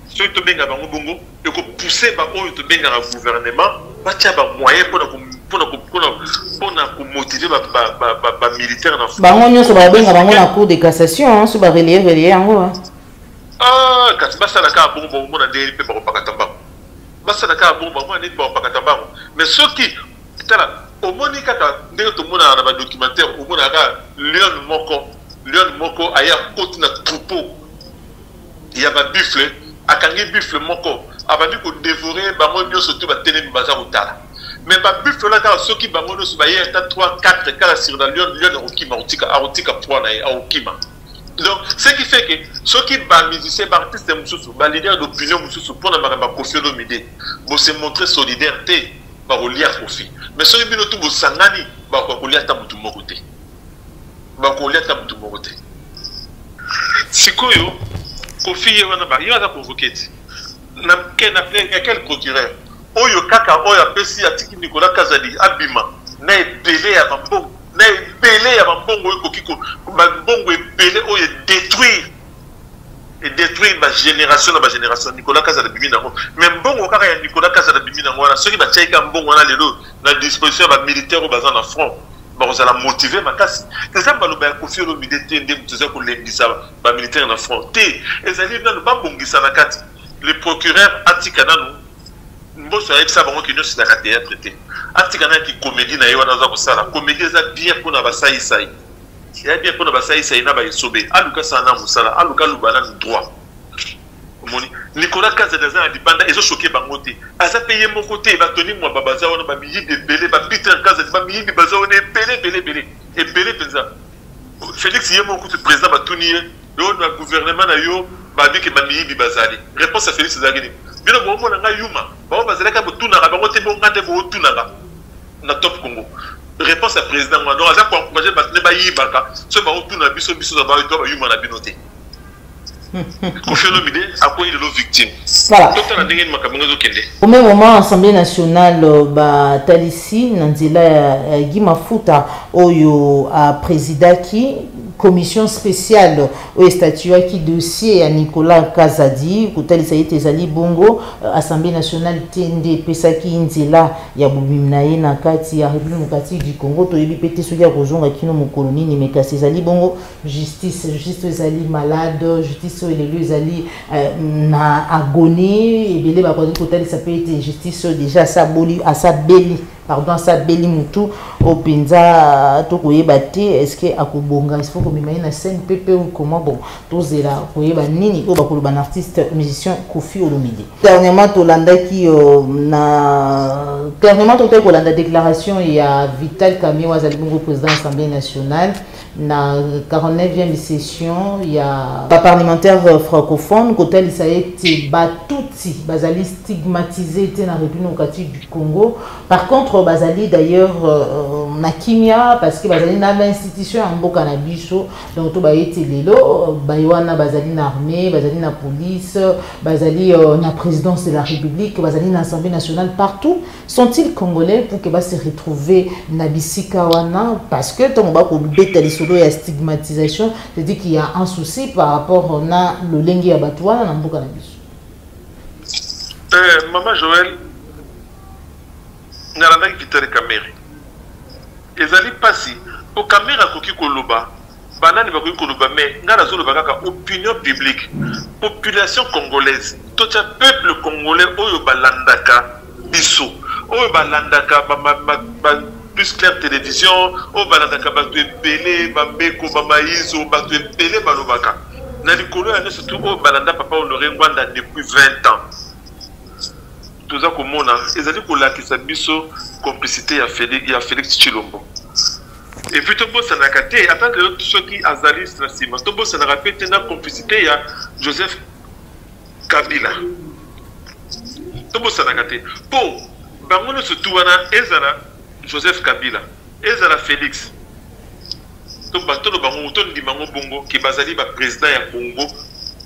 soki tobenga bango bongo ekopousse baoyo tobengaka gouvernement batya bamoyen mpona komotive bamilitaire na bango nyonso babenga bango na cour de cassation so barelie relie yango ah, kasi basala kaka bongo bakomona ndenge mpe bakopakata mbango basala kaka bongo bakomona ndenge bakopakata mbango mais soki tala omoni kaka ndenge tomonaka na badocumentaire omonaka kaka lion moko lion moko aye akoti na troupeau ya ba buffle akangi buffle moko abandi ko devorer bango nyoso tout ba telemi baza kotala mais ba buffle na kala soki bango nyoso ba ye ata 3 4 kala sur la lion lion akokima akotika akotika poids na ye akokima donc ce qui fait que soki ba musicien ba artiste mosusu ba leader d'opinion mosusu mpo na makambo ya kofi olomide bose montre solidaire te bakolia kofi mais soki bino tu bosangani bakoka kolia ata motu moko te bakolia ata motu moko te sikoyo kofi ye wana ye aza convoke te na quel procureur oyo kaka oyo apesi atiki nicolas kazadi abima na ebele ya bambongo na ebele ya bambongo oyo ekoki bambongo ebele oyo edétruire edétruire bagénération na bagénération nicolas kazadi abimi nango mais mbongo kaka ya nicolas kazadi abimi nango wana soki batiaki ka mbongo wana lelo na disposition ya bamilitaire oyo baza na front bakozala motive makasi eza maloba ya kofi olomide te nde moto eza kolembisa bamilitaire na front te ezali nano babongisa na kati le procureur atika nano mboso ayebisa bango ke nyonso ezalaka théâtre te atika na kikomedi na ye wana aza kosala komedi eza bien mpona basaisai eza bien mpona basaisai na baesobe aluka sana mosala aluka aluba nano droit omoni nicolas kazadi aza na libanda ezosoke bango te aza mpe ye moko te batoni mwaba baza wana bamiyibi ebele bapeter kazadi bamiyibi baza wana ebele ebele ebele ebele mpenza félix ye moko kutu président batuni ye yo na gouvernement na yo babi ke bamiyibi bazali réponse ya félix ezalaki nini bino boomona ngai yuma bango bazalaki botunaka bango te bonga nde bootunaka na top congo réponse ya président wana donc aza koencourage bato nde bayibaka soki baotuna biso biso na bato bayuma na bino te kofi olomide akwei lelo victime totala ndenge nini makambo yango ezokende au même moment assemblée nationale euh, batalisi na nzela ya gi mafuta oyo aprésidaki commission spéciale oyo estatuaki dossier ya nicolas kazadi kotalisa ete ezali bongo euh, assemblée nationale te nde epesaki nzela ya bobimi na ye na kati ya république démocratique du congo toyebi mpe te soki akozonga kino mokolo nini me kasi ezali bongo justice justice oyo ezali malade justice oyo lelo ezali euh, na agonie ebele bakoki kotalisa mpe ete justice oyo deja asaboli asabeli pardon asabeli motu oyo mpenza euh, tokoyeba te estce akobonga il faut komema ye na scène mpe mpe comment bon tozela koyeba nini oyo bakoloba na artiste musicien kofi olomide dernièrement tolandaki euh, na dernièrement totaki kolanda déclaration ya vital kamio azali bongo président assemblée nationale na 49e session ya baparlementaire francophone kotalisa ete batutsi bazali stigmatise te na république démocratique du congo par contre bazali d'ailleurs euh, na kimia parce que bazali na bainstitution ya mboka na biso donc toba ete lelo baye wana bazali na armée bazali na police bazali euh, na présidence de la république bazali na assemblée nationale partout sont-ils congolais pour que va se retrouver na bisika wana parce que tant ba ko beta lisolo ya stigmatisation c'est dire qu'il y a un souci par rapport na lolenge ya bato wana na mboka na biso euh, maman joël nalandaki vitale kamere ezali mpasi po kamere akoki koloba Banani bakoki koloba mais nga nazo loba kaka opinion publique population congolaise totia peuple congolais oyo balandaka biso oyo balandaka ba, ba, ba, ba plus clair télévision oyo balandaka bato ebele bambeko bamayizo bato ebele balobaka na likolo ya nyonso tu oyo balanda papa honore ngwanda depuis 20 ans toza komona ezali kolakisa biso complicité ya félix, ya félix chilombo Et puis tobosanaka te ata lelo soki azali na nsima tobosanaka mpe te na complicité ya joseph kabila tobosanaka te mpo bango nyonso tu wana ezala joseph kabila ezala félix toloba ngo tondima ngo bongo ke bazali baprésident ya congo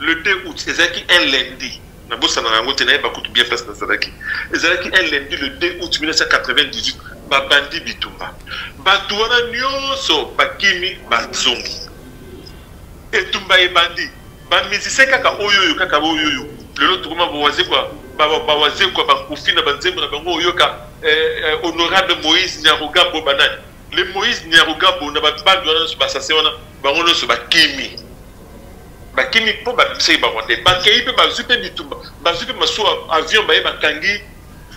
le 2 août ezalaki un lundi nabosanaka yango te nayeba kutu bien place nazalaki ezalaki un lundi le 2 août 1998 babandi bitumba bato wana nyonso bakimi bazongi etumba ebandi bamusicien kaka oyoyo kaka oyoyo lelo tokoma bawazekwa bawazekwa bakufi na banzembo na bango oyoka eh, eh, honorable moïse nyarugambo banani Mais Moïse Nyarugabo na ba bande wana nionso ba assassin wana bango nionso bakimi bakimi mpo babisaki barwandais bakei mpe bazwi mpe bitumba bazwi mpe masuwa avion baye bakangi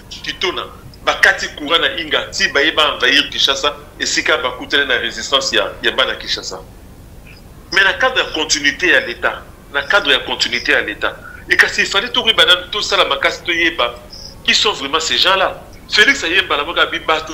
kitona bakati courant na inga ti baye baenvahir kinshasa esika bakutani na résistance ya, ya bana kinshasa mais na cadre ya continuité ya l'état na cadre ya continuité ya l'état e kasi efali tokoyeba nanu tosala makasi toyeba qui sont vraiment ces gens là félix ayembala moko abi bato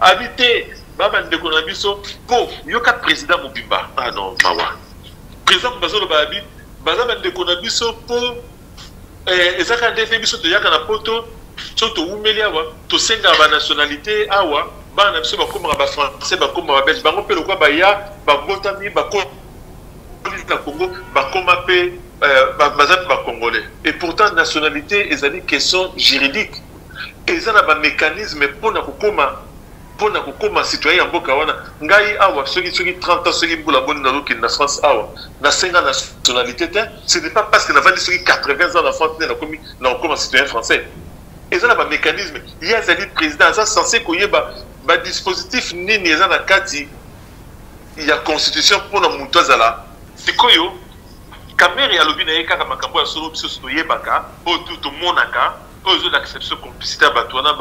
abi te ba bandeko na biso po yoka president mobimba ah non mawa president mobimba azoloba abi baza bandeko na biso po eh, eza kaka nde te biso toyaka na poto so towumeli awa tosengaka banationalité awa bana na biso bakomaka bafrançais bakoma babelge bango mpe lokola baya babotami bakoli na congo bakoma mpe eh, baza mpe bacongolais et pourtant nationalité ezali question juridique eza na ba mecanisme pona kokoma pona kokoma citoyen ya mboka wana ngai awa soki soki 30 ans soki mbula boni nazokende na france awa nasenga nationalité te ce n'est pas parce que navandi soki 80 ans na france nde nakomi na kokoma citoyen français eza na bamécanisme ye azali président aza censé koyeba badispositif nini eza na kati ya constitution mpona moto azala sikoyo kamere alobi na ye kaka makambo ya solo biso toyebaka oyo tomonaka oyo ezolakisa biso complicité ya bato wana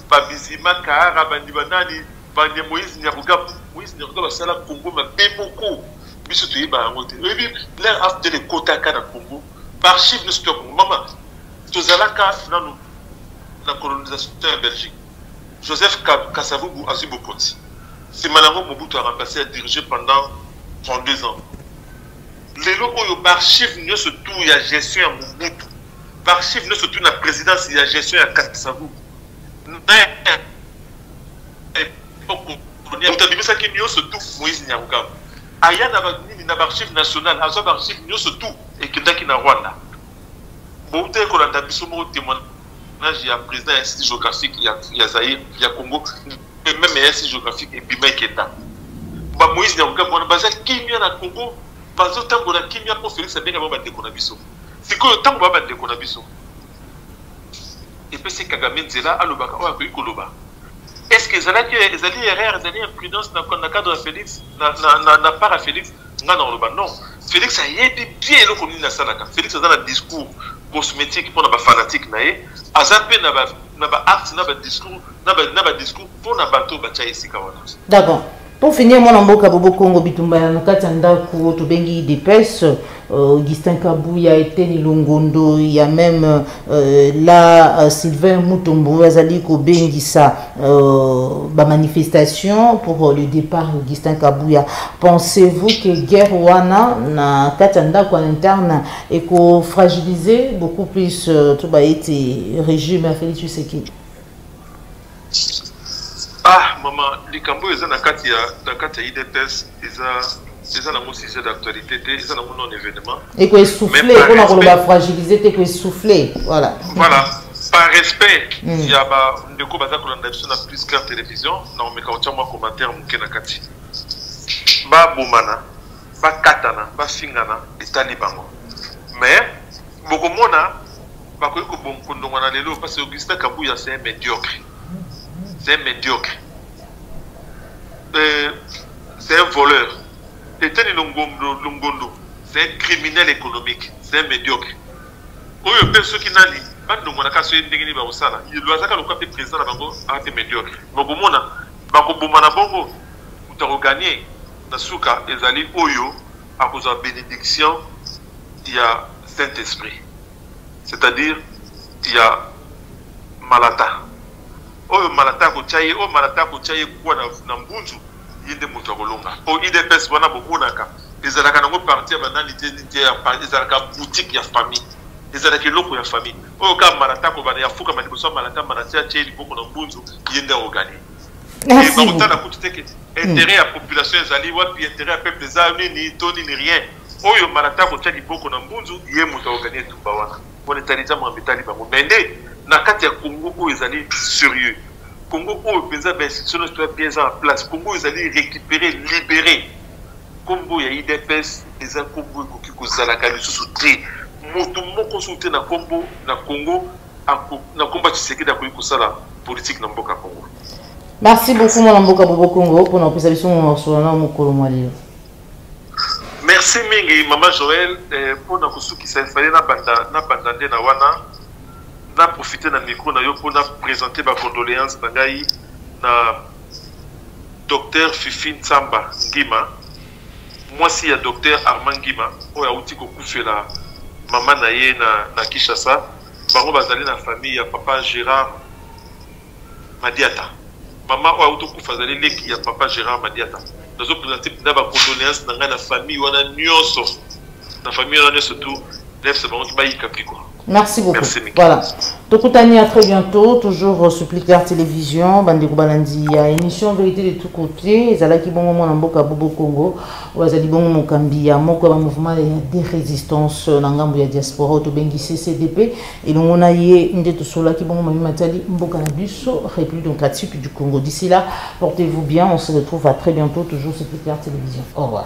babizima kaara bandi banani bande moïse nyakuga moïse nyakuga basala congo mabe moko biso toyeba yango te oyebi ler afdel ekotaka na congo baarchive nyonso to ya congo mama tozalaka nano na colonisation ya belgique joseph kasavubu azwi bokonzi nsima na yango mobutu aremplace ya dirige pendant 32 ans lelo oyo baarchive nyonso tour ya gestion ya mobutu B'archives ne surtout la présidence et la gestion ya Kasavubu. Otabimisaki nyonso tout Moïse Nyarugabo. Aya na banini na b'archives nationales, azwa b'archives nyonso tout ekendaki na Rwanda. Bouta ekolanda biso moko témoignage ya président ya Institut géographique ya, ya Zaïre, ya Congo, et même ya Institut géographique ebima ekenda. Ba Moïse Nyarugabo wana baza kimia na Congo, bazotambola kimia mpo Félix abenga bango bandeko na biso. sikoyo ntango ba bandeko na biso epesi kagame nzela alobaka oyo akoki koloba est ce que ezalaki ezali erreur ezali imprudence na, na cadre ya félix na, na, na, na part ya félix ngai na koloba non félix ayebi bien eloko nini asalaka félix aza na discours cosmétique mpo na bafanatike na ye aza mpe na ba na ba acte na ba discours na ba discours mpo na bato oyo batya esika wana d'accord Pour finir, mwana mboka Bobo Congo bitumba ya nakati ya ndako tobengi depes euh, Augustin Kabuya Eteni Longondo ya même euh, la euh, Sylvain Mutombo azali kobengisa euh, ba manifestation pour euh, le départ Augustin Kabuya. Pensez-vous que guerre wana na kati ya ndako interne eko fragiliser beaucoup plus euh, to ba ete régime ya Félix Tshisekedi? Ah, maman, les cambouis, ils ont la carte à IDPS, ils ont eza nango sujet d'actualité te eza nango non événement ekoesouffle mpona koloba fragilise te ekoesouffle voilà voilà par respect mm. ya bandeko baza kolanda biso na plus clair télévision na omeka kotya mwa commentaire moke na kati babomana bakatana bafingana etali bango mais bokomona bakoki kobondongwana lelo parce que Augustin Kabuya c'est un médiocre c'est un médiocre euh, c'est un voleur Eteni Longondo, Longondo c'est un criminel économique c'est un médiocre oyo mpe soki nani bandongwanaka soki ndenge nini bakosala azaka lokola mpe président na bango aa mpe médiocre mais okomona bakobomana bongo Moto ako gagner na suka ezali oyo akozwa benediction ya Saint Esprit, c'est à dire ya malata oyo malata akotia ye, oyo malata akotia ye kuwa na, na mbunzu ye nde moto akolonga. Po udps wana bomonaka ezalaka nango parti ya banani te, nini te, ezalaka boutique ya famille, ezalaka eloko ya famille. Oyo kaka malata akobanda ya fukama liboso ya malata, malata atie ye liboko na mbunzu, ye nde akoganye. bakotala kutu te keti intérêt ya population ezali wapi intérêt ya peuple eza nini to nini rien oyo mbala ta kotya liboko na mbunzu ye moto aogani etumba wana mpona etali eza mambo etali bango mai nde na kati ya congo oyo ezali sérieux congo oyo mpenza bainstitution nyonso toya bien eza na place congo oyo ezali récupéré libéré nkombo ya idps eza nkombo ekoki kozalaka lisusu te moto moko soki te na nkombo na congo ako na komba Tshisekedi akoki kosala politique na mboka Congo. Merci beaucoup mwana mboka Bobo Congo pona kopesa biso mosolo na mokolo mwa lelo. Merci mingi mama Joël eh, pona kosukisa efale na banda na banda nde na wana na profiter na micro na yo pona présenter ba condoléances na ngai na docteur Fifi Nsamba Ngima Mwasi ya Docteur Armand Ngima oyo awuti kokufela mama na ye na, na Kinshasa, bango bazali na famille ya papa Gerard Madiata. Mama oyo awuti kokufa azali leki ya papa Gerard Madiata. Nazo presente mpenza ba condoléances na ngai na famille wana nyonso, na famille wana nyonso tout nefs bango bayika mpiko. Merci beaucoup. Merci, voilà. Tokutani à très bientôt, toujours euh, sur Plicard Télévision, Bandeko Balandi, ya émission Vérité de tous côtés, ezalaki bongo mwana mboka Bobo Congo, wazali bongo mokambi ya moko ya mouvement ya de résistance euh, na ngambo ya diaspora oyo tobengi CCDP, elongo na ye nde tosolaki bongo mami matali mboka na biso, République démocratique du Congo. D'ici là, portez-vous bien, on se retrouve à très bientôt, toujours sur Plicard Télévision. Au revoir.